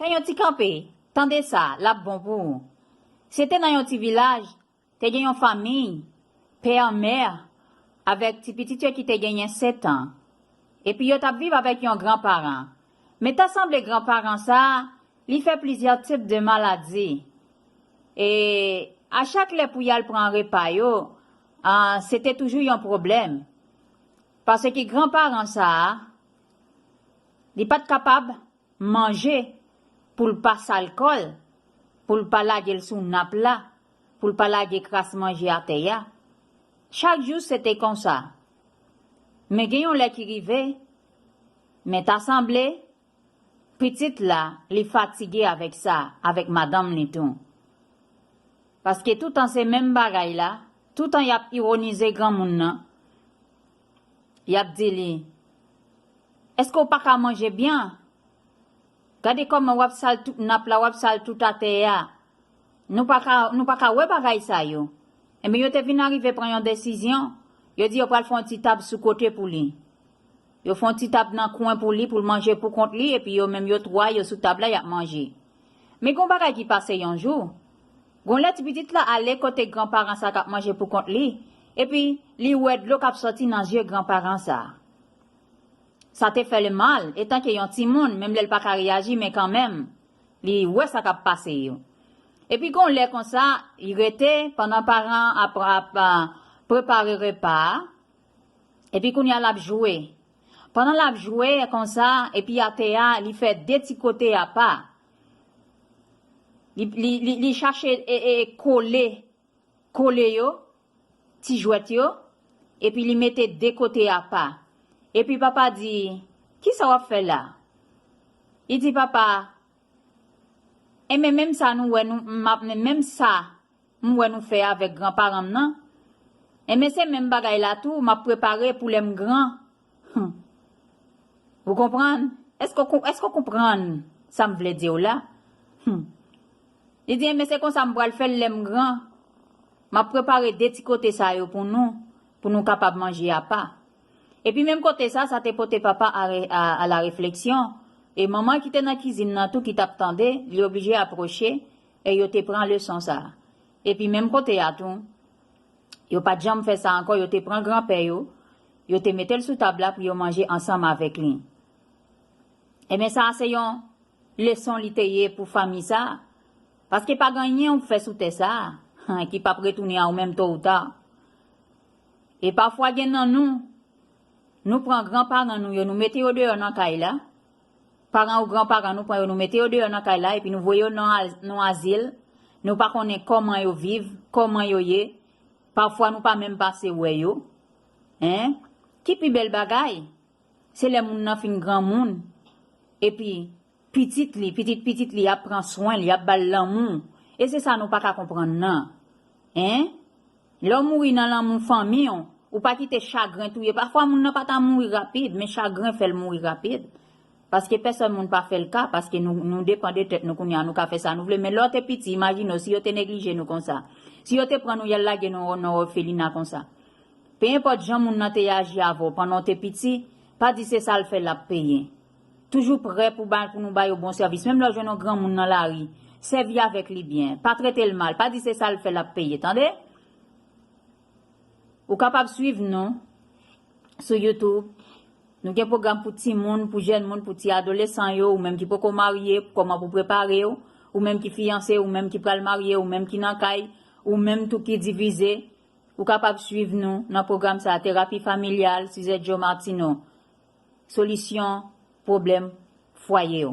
Fè yon ti kanpe, tande sa, l ap bon pou ou. Se te nan yon ti vilaj, te gen yon fanmiy, pè, mè, avèk ti pitit yo ki te genyen setan. Epi yo t ap viv avèk yon gran paran. Men ta sanble gran paran sa a, li fè plizyè tip de maladi. E, a chak lè pou y al pran repa yo, an, se te toujou yon pwoblèm. Paske gran paran sa a, li pa t kapab manje pou l pa sal kò l, pou l pa lage l sou nap la, pou l pa lage kras manje atè a. Chak jou se te konsa. Men gen yon lè ki rive, men ta sanble, pitit la, li fatige avèk sa, avèk madanm li tou. Paske toutan se menm bagay la, toutan y ap ironize granmoun nan, Y ap di li, Èske ou pa ka manje byen? Gade kòman w ap sal tout nap la, w ap sal tout atè a. Nou pa ka, nou pa ka wè bagay sa yo. Enben, yo te vin arive pran yon desizyon, yo di yo pral fè yon ti tab sou kote pou li. Yo fè yon ti tab nan kwen pou li, pou l manje pou kont li, epi yo menm yo twa, yo sou tab la, y ap manje. Men gon bagay ki pase yon jou. Gon lè ti pitit la ale kote gran paran sa k ap manje pou kont li, epi li wè dlo k ap sòti nan zye gran paran sa. Sa te fè l mal, etanke yon timoun, menm lè l pa ka reyaji men kanmenm, li wè sa k ap pase yo. Epi gon lè konsa, li rete, pandan paran an ap prepare repa a, Epi kounya lap jwe. Pandan lap jwe konsa epi atè a li fè de ti kote apa. Li li chache kole kole yo ti jwèt yo epi li mete de kote apa. Epi papa di kisa wap fè la? Li di papa enmen menm sa nou wè nou menm sa. m wè nou fè avèk gran paran m nan enben se menm bagay la tou m ap prepare pou lè m gran humm ou konprann èske w èske w konprann sa m vle di w la humm li di enben se konsa m pral fè l lè m gran m ap prepare de ti kote sa yo pou nou pou nou kapab manje apa epi menm kote sa sa te pote papa a a la refleksyon e manman ki te nan kizin nan tou ki t ap tande li oblije apwoche E yo te pran leson sa a. Epi menm kote a tou, yo pa t janm fè sa ankò, yo te pran granpè yo, yo te mete l sou tab la pou yo manje ansanm avèk li. Enben, sa a se yon leson li te ye pou fanmi sa a, paske pa gen anyen ou fè sou tè sa a ki pap retounen a ou menm to ou ta. E pafwa gen nan nou, nou pran granparan nou yo, nou mete yo deyò nan kay la, Paran ou gran paran nou pran yo nou mete yo deyò nan kay la epi nou voye yo nan nou azil nou pa konnen kòman yo viv kòman yo ye pafwa nou pa menm pase wè yo hein ki pi bèl bagay se lè moun nan fin granmoun epi pitit li pitit pitit li ap pran swenl yap bal lanmou e se sa nou paka konprann nan Hein? Lè w mouri nan lanmou fanmi w, ou pa kite chagren touye pafwa moun nan pa ta mouri rapid men chagren fè l mouri rapid paske pèsòn moun pa fè l ka paske nou nou depan de tèt nou kounye a nou ka fè sa nou vle men lè w te piti imajine w si yo te neglije nou konsa si yo te pran nou y al lage nou nan òfelina konsa pe enpòt jan moun nan te aji avè w pandan w te piti pa di se sa l fè l ap peye. Toujou prè pou ba pou nou ba yo bon sèvis. Menm lè w jwenn yon granmoun nan lari, sèvi avèk li byen. Pa trete l mal. Pa di se sa l fè l ap peye. Tande? Ou kapab swiv nou sou YouTube. Nou gen pwogram pou timoun, pou jèn moun, pou ti adolesan yo, ou menm ki poko marye, kòman pou prepare w, ou menm ki fiyanse, ou menm ki pral marye, ou menm ki nan kay, ou menm tou ki divize. Ou kapab swiv nou nan pwogram sa a, Terapi Familyal, Suzette Joe Martineau. Solisyon pwoblèm fwaye yo.